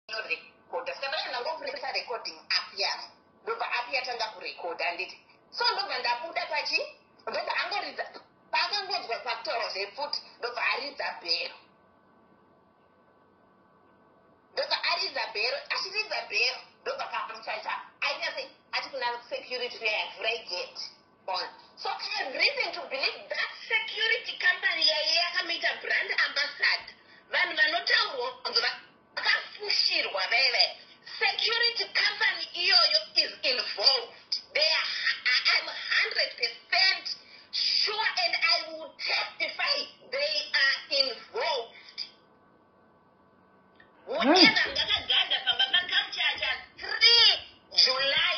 ndorekodha ska ndacho ndangopresa recording app yavo ndobva app yatanga kurekodha anditi so ndobva ndabuda pachi ndobva angoridza paakangonzwa pakutaura zvepfuti ndobva aridza bhero ndobva aridza bhero achiridza bhero ndobva kamuchacha ainyase ati kuna security uya yavhura igeti Bon. So I have reason to believe that security company yaiye yakamuita brand ambassad. Vanhu vanotaurwa kunzi vakafushirwa vaya vaya. Security company iyoyo is involved. They are, I am 100% sure and I will testify they are involved. Whatever mm. ngakagada pamba paculture cha 3 July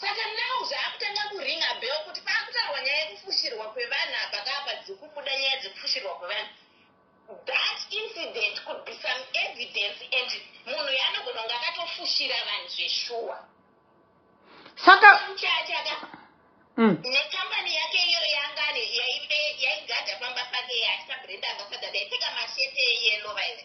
Saka now zvaakutanga kuringa bell kuti paakutaurwa nyaya yekufushirwa kwevanhu apa kaapa dzikubuda nyaya dzekufushirwa kwevanhu that incident could be some evidence and munhu yaanogona kunge akatofushira vanhu zveshuwa saka chachaka mm. nekambani yake iyo yangani yaigadha pamba pake yaita brenda ambasada daipfeka mashete eyelo vaive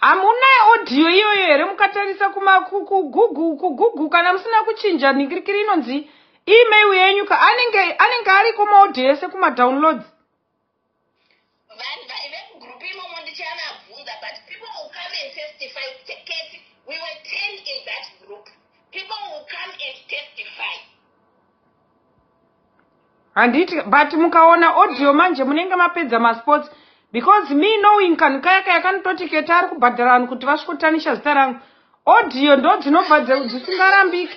hamuna audio iyoyo here mukatarisa kugugu kugugu kana musina kuchinja nhingirikiri inonzi email yenyu ka anenge anenge ariko maaudio ese kumadownloads vanhu vaive mugroup imomo ndichavabvunza but people will come and testify kuti keti we were ten in that group people will come and testify handiti but mukaona audio manje munenge mapedza masports because me knowing kanhu kaya kaya kanototi keti ari kubhadhara vanhu kuti vasvikotanisha zita rangu audio ndo dzinobva dzisingarambiki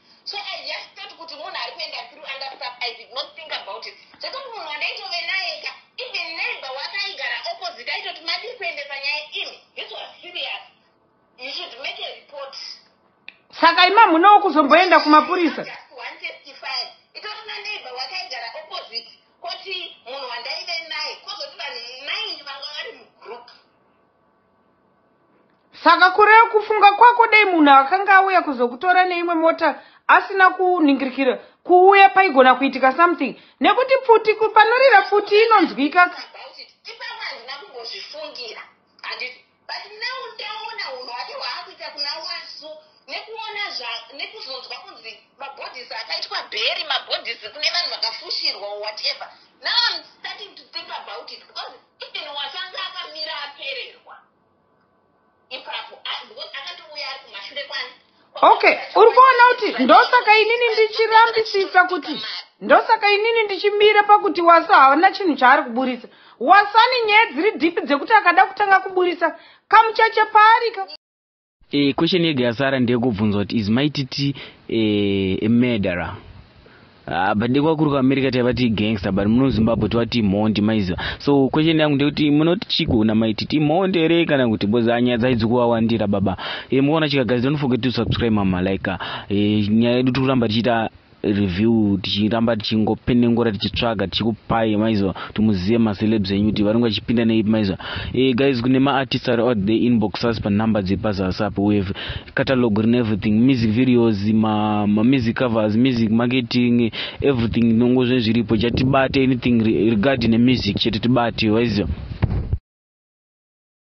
So I just thought kuti munhu ari kuenda through under stuff I did not think about it. Zvekuti munhu wandaitove naye ka even neighbor wakaigara opposite aitoti madii kuendesa nyaya imi. This was serious. You should make a report. Saka ima munowo kuzomboenda kumapurisa. Just one testify. Itori na neighbor wakaigara opposite koti munhu wandaive naye kozoti vanhu nine vanga vari mugroup. saka kureva kufunga kwako dai munhu akanga auya kuzokutora neimwe mota asina kuningirikira kuuya paigona kuitika something nekuti pfuti panorira pfuti inonzwika nekuzonzwa kunzi mabhodhisi akaitwa bheri mabhodhisi kune vanhu vakafushirwa or whatever now im starting to think about it because even watanga akamira apererwa ipapo because akatouya ari kumashure kwani okay uri kuona kuti ndosaka inini ndichirambisisa kuti ndosaka inini ndichimira pakuti wasa haana chinhu chaari kuburitsa wasani nyaya dziri dhipi dzekuti akada kutanga kuburitsa kamuchacha paarika E, question yega yasara ndeyekubvunza kuti is mai titi e, a murderer Ah, but dekwa kuri kuamerica taivati gangster but muno zimbabwe tovati mhondi maiziva so question yangu ndeyekuti munoti chigona maiti timhondi here kana kuti because ah, nyaya dzaidzi kuvawandira baba e, eh, mukaona chikagadzira nofoge to subscribe mama like e, nyaya yedu tiri kuramba tichiita review tichiramba tichingopenengura tichitsvaga tichikupai maiziva kuti muzive macelebs enyu kuti vanenge vachipinda neipi maiziva e, eh, guys kune maartist ari out the inbox us panumber dzepazasi apo we have catalog rine everything music videos mamusic ma covers music marketing everything nongo zve zviripo chatibate anything regarding nemusic chete tibate waiziva